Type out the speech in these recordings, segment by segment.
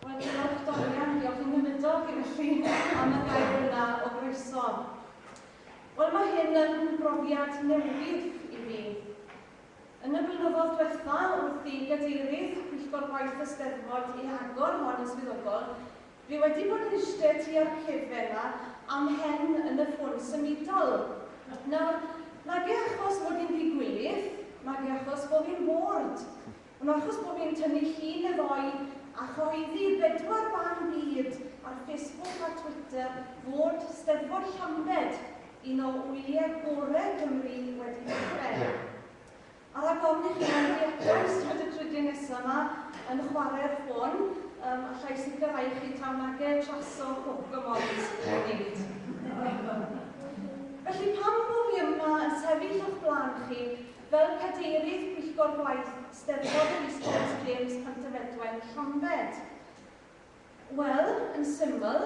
Wel diolch Dorian, diolch yn wynydog i felly am y gair yna o groeso. Wel mae hyn yn brofiad newydd i fi. Yn y blynyddoedd diwetha wrth i gadeirydd Pwyllgor Gwaith y Steddfod i agor hon yn swyddogol, fi wedi bod yn iste tua'r cefen ma am hen yn y ffôn symudol. Nawr, nage achos mod i'n ddi-gwilydd, nage achos bo fi'n bored. Ond achos bo fi'n tynnu llun efo'i a chyhoeddi i'r bedwar ban byd ar Facebook a Twitter fod Steddfod Llambed, un o wyliau gore Cymru, wedi dechrau. A rhag ofn i chi anfon i allan ystod y trydydd nesaf ma yn chware'r ffôn, um, allai sicrhau chi taw nage traso Pokemons yn neud. Felly pam bo fi yma yn sefyll o'ch blaen chi Fel Cadeirydd Pwyllgor Gwaith Steddfod yr Eastbourne James Pantyfedwen Llambed. Wel, yn syml,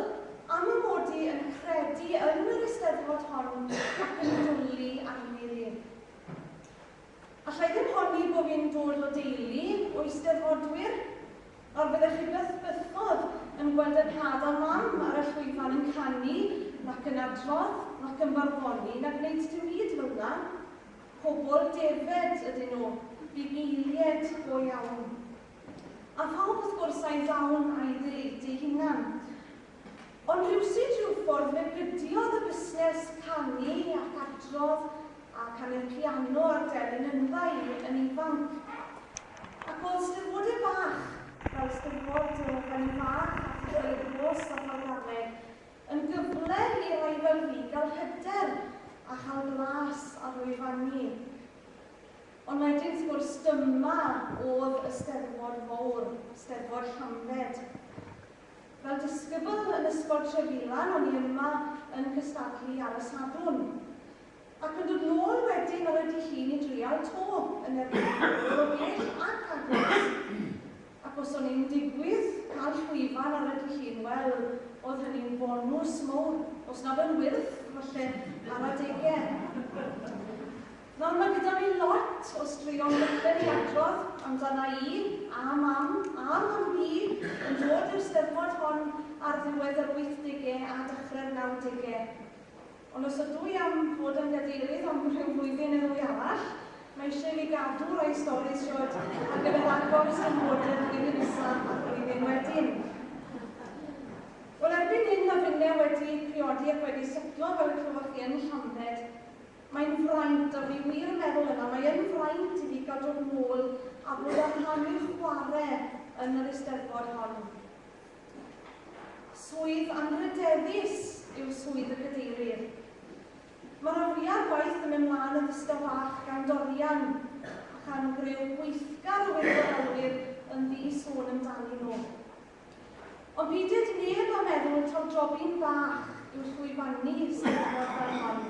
am y mod i yn credu yn yr Eisteddfod hon ac yn dwli arni ddi. Alla i ddim honni bo fi'n dod o deulu o Eisteddfodwyr, nawr fyddech chi byth bythodd yn gweld y tad a mam ar y llwyfan yn canu nac yn adrodd nac yn barddoni na gwneud dim byd fel 'na. Pobl defaid ydyn nhw, bugeiliaid go iawn. A phawb wrth gwrs a'i ddawn a'i ddeledu hunan. Ond rywsut rhyw ffordd fe gydiodd y busnes canu ac adrodd a canu'r piano a'r delyn yndda i yn ifanc. Ac o'dd 'Steddfod e bach, fel 'Steddfod y Fenni Fach a Thŷ Lloyd Rhos fel Ffordd Arledd, Yn gyfle i rai fyddfi gael hyder a chael blas ar lwyfanni. Ond wedyn wrth gwrs dyma oedd y Steddfod fowr, Steddfod Llambed. Fel disgybl yn Ysgol Trefilan o'n i yma yn cystadlu ar y Sadwrn. Ac yn dod nôl wedyn ar y Dy Llun i drial 'to yn erbyn pobl o bell ac agos. Ac os o'n i'n digwydd cael llwyfan ar y dy hun, wel, oedd hynny'n bonws mowr, os nad yn wyrth, falle, ar adegau. Nawr, mae gyda fi lot o straeon bychan i adrodd amdana i, a Mam, a Mam Bi, yn dod i'r Steddfod hon ar ddiwedd yr wythdegau a dechrau'r nawdegau. Ond os ydw i am fod yn Gadeirydd am rhyw flwyddyn neu ddwy arall, mae eisiau i fi gadw rhai stori shwd ar gyfer agor Stoneboarder flwyddyn nesa a'r flwyddyn wedyn. Wel, erbyn hyn mae finne wedi priodi ac wedi setlo fel y clywoch chi yn Llambed. Mae'n fraint, a fi wir yn meddwl yna, mae yn fraint i fi cael dod nôl a bod â rhan i'w chware yn yr Eisteddfod hon. Swydd anrhydeddus yw swydd y Cadeirydd. Mae rhan fwyaf o'r gwaith yn mynd mlaen yn ddistaw bach gan Dorian a chan greu gweithgar o wirfoddolwyr yn ddi-sôn amdanyn nhw. Ond peidied neb a meddwl taw jobyn bach yw llwyfannu Eisteddfod fel hon.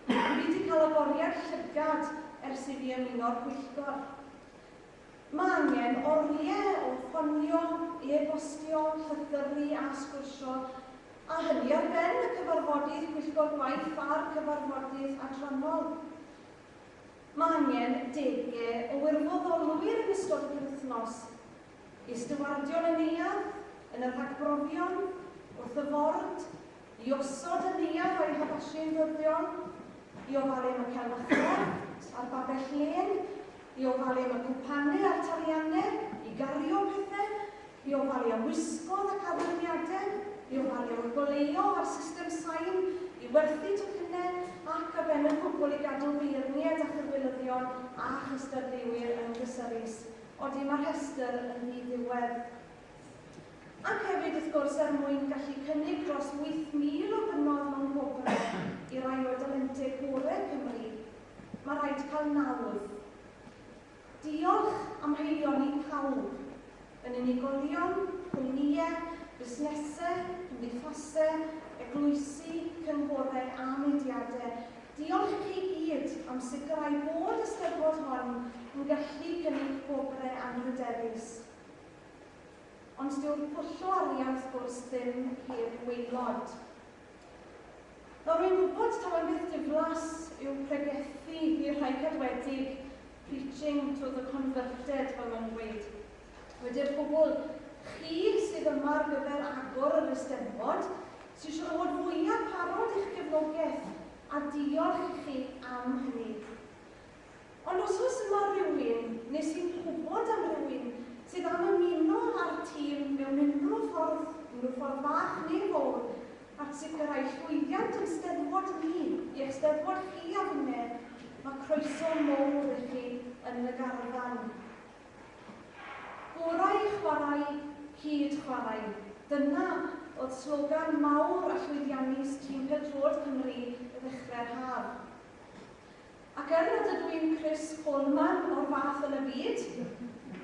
Dw i wedi cael agoriad llygad ers i fi ymuno'r pwyllgor. Mae angen oriau o ffonio, e-bostio, llythyru a sgwrsio, a hynny ar ben y cyfarfodydd pwyllgor gwaith a'r cyfarfodydd adrannol. Mae angen degau o wirfoddolwyr yn ystod y penwythnos, i ystywardion y neuadd, yn y rhagbrofion, wrth y ford, I osod y neuadd o'i haddasu'n ddyddiol, i ofalu am y celfyddydau a'r babell lên, i ofalu am y cwpanau a'r taliannau, i gario pethau, i ofalu am wisgoedd ac addurniadau, i ofalu am y goleuo a'r system sain, i werthu tocynnau ac, ar ben y cwbl, i gadw beirniaid a chydweinyddion a chystadleuwyr yn gysurus. Odi, mae'r rhestr yn ddi-ddiwedd. Ac hefyd, wrth gwrs, er mwyn gallu cynnig dros 8,000 o ddynodd mewn gwobrau i rai o'r dalentau gorau Cymru, mae rhaid cael nawdd. Diolch am haelioni i pawb, yn unigolion, cwmnïau, busnesau, cymdeithasau, eglwysi, cynghorau a mudiadau. Diolch i chi gyd am sicrhau bod y Steddfod hon yn gallu cynnig gwobrau anrhydeddus. Ond dyw'r pwllo arian wrth gwrs ddim heb waelod. Nawr rwy'n gwybod taw e'n beth diflas yw pregethu i'r rhai cadwedig, preaching to the converted fel mae'n dweud. Wedi'r cwbl, chi sydd yma ar gyfer agor yr Eisteddfod, sy'n siŵr o fod fwyaf parod i'ch gefnogaeth, a diolch i chi am hynny. Ond os oes yma rywun, neu sy'n gwybod am rywun, sydd am ymuno â'r tîm mewn unrhyw ffordd, unrhyw ffordd fach neu fowr, at sicrhau llwyddiant yn Steddfod ni, i'ch Steddfod chi a finne, mae croeso mowr i chi yn y garfan. Gorau chwarae, hyd chwarae. Dyna oedd slogan mawr a llwyddiannus tîm pêl-droed Cymru i ddechrau'r haf. Ac er nad ydw i'n Chris Coleman o'r fath yn y byd,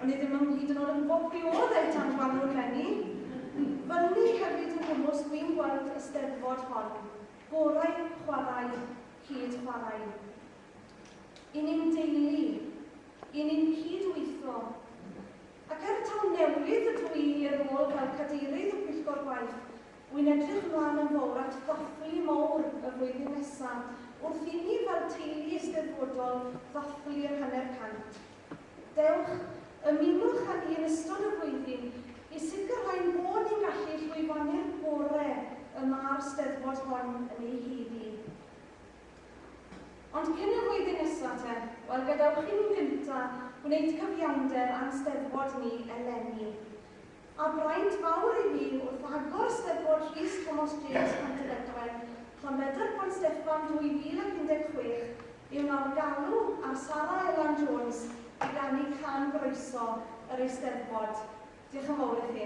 o'n i ddim yn hyd yn oed yn gwybod pwy oedd Eitan Gwanwyn Gwanwyn Lenni, fy unig hefyd yn gwmws dwi'n gweld y Steddfod hon, gorau chwarae, hyd chwarae. I ni'n deulu, i ni'n cyd-weithio. Ac er taw newydd ydw i i'r rôl fel Cadeirydd y Pwyllgor Gwaith, Wy'n edrych ymlaen yn fawr at ddathlu mawr y flwyddyn nesa wrth i ni fel teulu Eisteddfodol ddathlu'r hanner cant. Dewch, ymunwch â ni yn ystod y flwyddyn i sicrhau'n bod ni'n gallu llwyfannu'r gore y ma'r Steddfod hon yn ei haeddu. Ond cyn y flwyddyn nesa te, wel gadewch i ni'n gynta gwneud cyfiawnder a'n Steddfod ni eleni. A braint fawr i mi wrth agor Steddfod Rhys Tomos James Pontyfedwen, Llanbedr Pont Steffan 2016, yw nawr galw ar Sara Elan Jones i ganu can groeso yr Eisteddfod. Diolch yn fawr i chi.